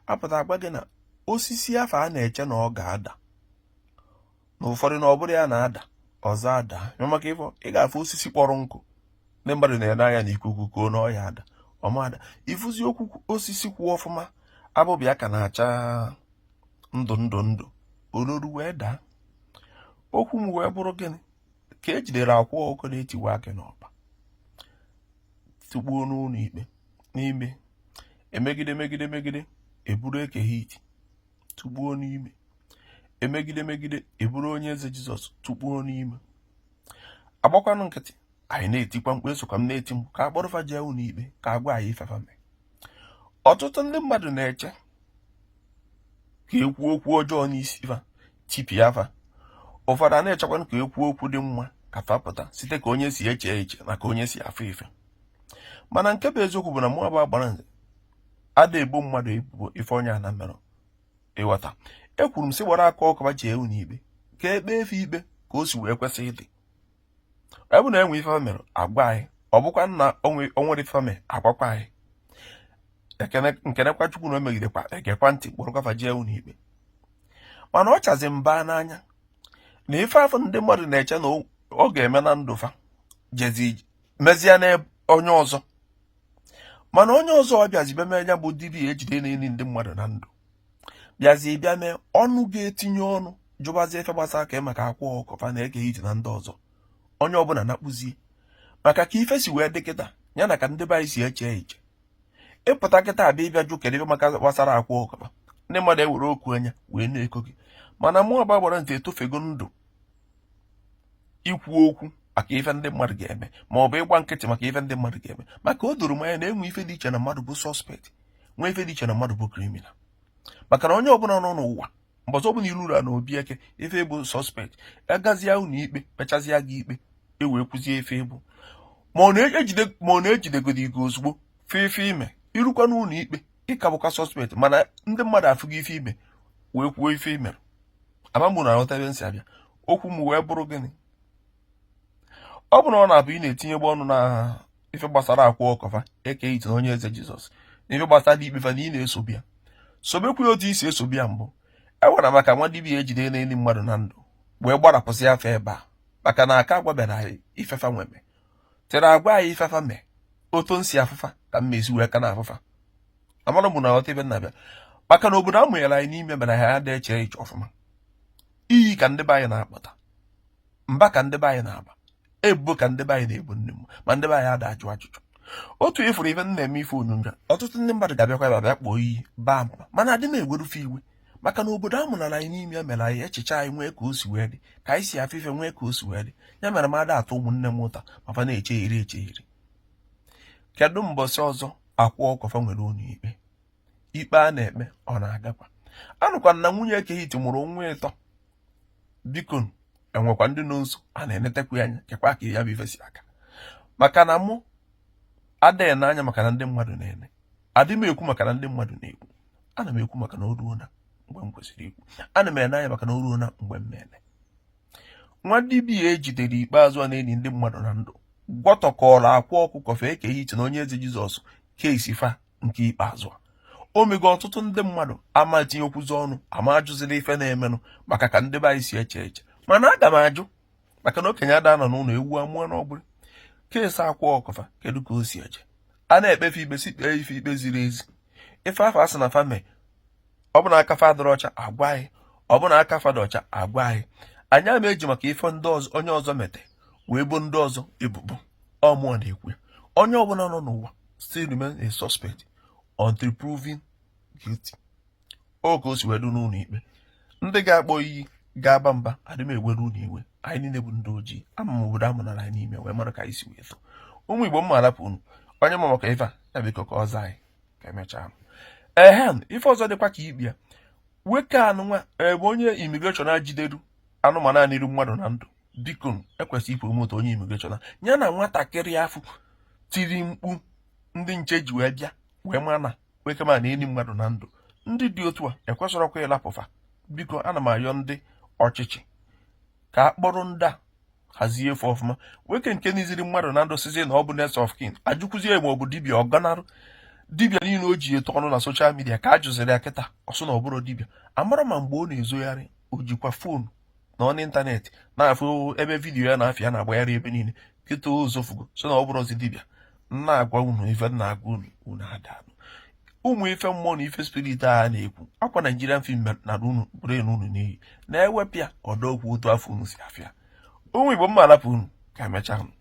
apụta agwa gị na osisi afụ a na-eche na ọ ga-ada na ụfọdụ na ọ bụrọ ya na-ada ọzọ adaa maka ịfụ ị ga-afụ osisi kpọrọ nkụ ndị mmadụ na-ene anya na ikuku kuo na ọ ya-ada ọ ma ada ịfụzi ukwu osisi kwụ ọfụma abụba ya ka na-acha ndụ ndụ ndụ o roru wee daa okwu m wee bụrụ gịnị ka ejidere akwa ọkụkọ na-etiwa akị n'ọba tụgbuo n'ụnọ ikpe n'ime emegide megide megide eburu eke hit tụgbuo n'ime emegide megide eburu onye eze jizọs tụgbuo n'ime agbakwanụ nkịtị anyị na-etikwa mkpu esokwa m na-eti mkpu ka akpọrọ fa jee ụnọ ikpe ka agwa anyị ife fa mee ọtụtụ ndị mmadụ na-eche ka ekwu okwu ọjọọ n'isi fa tipịa fa ụfọdụ a na-echekwanụ ka ekwu okwu dị mma ka fa pụta site ka onye si eche eche na ka onye si afụ ife mana nke bụ eziokwu bụ na mụwa bụ agbara nze ada ebo mmadụ ebubo ife onye a na-emerọ ịghọta ekwuru m sị kpọrọ akwa ọkụkọ fa jee ụnọ ikpe ka ekpee fa ikpe ka o si wee kwesị ịdị ọ bụ na enwe ife fa mere agwa anyị ọ bụkwa na onwerọ ife fa mere agwakwa anyị m kenekwa chukwu na emegidekwa egekwa ntị kpọrọkwa fa jee ụnọ ikpe mana ọ chazi mba n'anya na ife afụ ndị mmadụ na-eche na ọ ga-eme na ndụ fa jezi mezie na onye ọzọ mana onye ọzọ abịazi bịa mee ya bụ dibịa ejide na-eni ndị mmadụ na ndụ bịazi bịa mee ọnụ ga-etinye ọnụ jụbazie ife gbasara ka maka akwa ọkụkọ fa na eke hit na ndị ọzọ onye ọbụla na-akpụzie maka ka ife si wee dị kịta ya na ka ndị be anyị si eche eche ịpụta kịta abịa ịbịa jụ kedu ife maka gbasara akwa ọkụkọ fa ndị mmadụ ewere okwu anya wee na-eko gị mana mụwa bụ agbara nze etofego ndụ ikwu okwu maka ife ndị mmadụ ga-eme ma ọ bụ ịgba nkịtị maka ife ndị mmadụ ga-eme maka o doro m anya na enwe ife dị iche na mmadụ bụ sọspekt nwee ife dị iche na mmadụ bụ kriminal maka na onye ọbụla nọ n'ụwa mbọsị ọbụla iru ụra na obi eke ife bụ sọspekt agazie ụnọ ikpe kpechazịa gị ikpe e wee kwuzie ife ịbụ ma ọ na-ejidegodi gị ozugbo fụ ife ime irukwa n'ụnọ ikpe ịka bụkwa sọspekt mana ndị mmadụ afụgo ife ime wee kwuo ife imere ama m na aghọta ebe m si abịa okwu m wee bụrụ gịnị ọ bụrụ na ọ na-abụ ị na-etinyebu ọnụ na ife gbasara akwa ọkụkọ fa eke hit na onye eze jizọs na ife gbasara dị ikpe fa na ị na-esobu ya sobekwa ya otu isi esobu ya mbụ ewere maka nwa dibịa ejide na-eni mmadụ na ndụ wee gbarapụsịa fa ebe a maka na aka agwaberọ anyị ife fa nweme tere agwa anyị ife fa mee otu m si afụ fa ka m si wee ka na-afụ fa amara m na aghọta ebe na-abịa maka na obodo a mụnyere anyị n'ime mere anyị adị eche eche ọfụma iyi ka ndị be anyị na-akpọ mba ka ndị be anyị na-aba ebubo ka ndị be anyị na-ebo nne m ma ndị be anyị ada ajụ ajụjụ otu ị fụrụ ife m na-eme ife onyonyo ọtụtụ ndị mmadụ ga-abịakwa ebe abịa kpọọ iyi baa mba mana adị m eweru fa iwe maka na obodo a mụnyere anyị n'ime mere anyị echiche anyị nwee ka o si wee dị ka anyị si afụ ife nwee ka o si wee dị ya mere m ada ata ụmụnne m ụta ma fa na-echegheri echegheri kedu mbọsị ọzọ akwa ọkụkọ fa nwere ụlọ ikpe ikpe a na-ekpe ọ na-agakwa anụkwa m na nwunye eke hit mụrụ nwa ịtọ biko e nwekwa ndị nọ nso a na-enetekwa anya kekwa ka ya bụ ife si aga maka na mụ adị ene anya maka na ndị mmadụ na-ene adị m ekwu maka na ndị mmadụ na-ekwu ana m ekwu maka na o ruona mgbe m kwesịrị ikwu ana m ene anya maka na o ruona mgbe m na-ene nwa dibịa e jidere ikpeazụ a na-eni ndị mmadụ na ndụ gwọtọkọrọ akwa ọkụkọ fa eke hit na onye eze jizọs case fa nke ikpeazụ a o mego ọtụtụ ndị mmadụ ama tinyekwuzi ọnụ ama ajụzila ife na-emenụ maka ka ndị be anyị si eche eche mana aga m ajụ maka na okenye ada anọ n'ụlọ ewu amụọ n'ọgbụrụ case akwa ọkụkọ fa kedu ka o si eje a na-ekpe fa ikpe sị kpee fa ikpe ziri ezi ife afụ a sị na fa me ọ bụ na aka fa adịrọ ọcha a gwa anyị ọ bụ na aka fa dị ọcha a gwa anyị anyị ama eji maka ife ndị ọzọ onye ọzọ mete wee bo ndị ọzọ ebubo ọ mụnwa na-ekwu onye ọbụla nọ n'ụwa still remain a suspect until proven guilty ọ ka o si wee dị n'ụlọ ikpe ndị ga-akpọ iyi ga-aba mba adị m ewere unu iwe anyị niile bụ ndị ojii ama m obodo a mụnyere anyị n'ime wee mara ka anyị si wee too ụmụ igbo m ma alapụ unu onye ma maka ife a ya biko ka ọ zaa anyị ka emechaa ehem ife ọzọ dịkwa ka ikpe ya nwoke anụnwa bụ onye immigration a jideru anụmanụ a niri mmadụ na ndụ biko e kwesị ịpromote onye immigration ya na nwatakịrị afụ tiri mkpu ndị nche ji wee bịa wee mara na nwoke m a na-eni mmadụ na ndụ ndị dị otu a ekwesịrọkwa ịlapụ fa biko ana m ayọ ndị ọchịchị ka a kpọrọ ndị a hazie fa ọfụma nwoke nke niziri mmadụ na ndụ sịzie na ọ bụ next of kin a jụkwuzie ya ma ọ bụ dibịa ọ gọnarụ dibịa niile o ji etu ọnụ na social media ka a jụziri ya kịta ọ sị na ọ bụrọ dibịa amarọ m ma mgbe ọ na-ezogharị o jikwa foonu na-anọ n'ịntanetị na-afụ ebe vidiyo ya na afa ya na-agbagharị ebe niile kịta ụzọ fugo sị na ọ bụrọzi dibịa a na-agwa unu ife a na-agwa unu unu ada anụ ụmụ ife mmụọ na ife spirit a na-ekwu ọkwa Nigerian film narụ brain unu n'iyi na-ewepịa ọdọ okwu otu afụ unu si afụ ya ụmụ Igbo m ma alapụ unu ka emechaa unu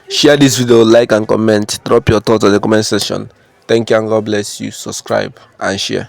Share this video, like and comment. Drop your thoughts on the comment section. Thank you and God bless you. Subscribe and share.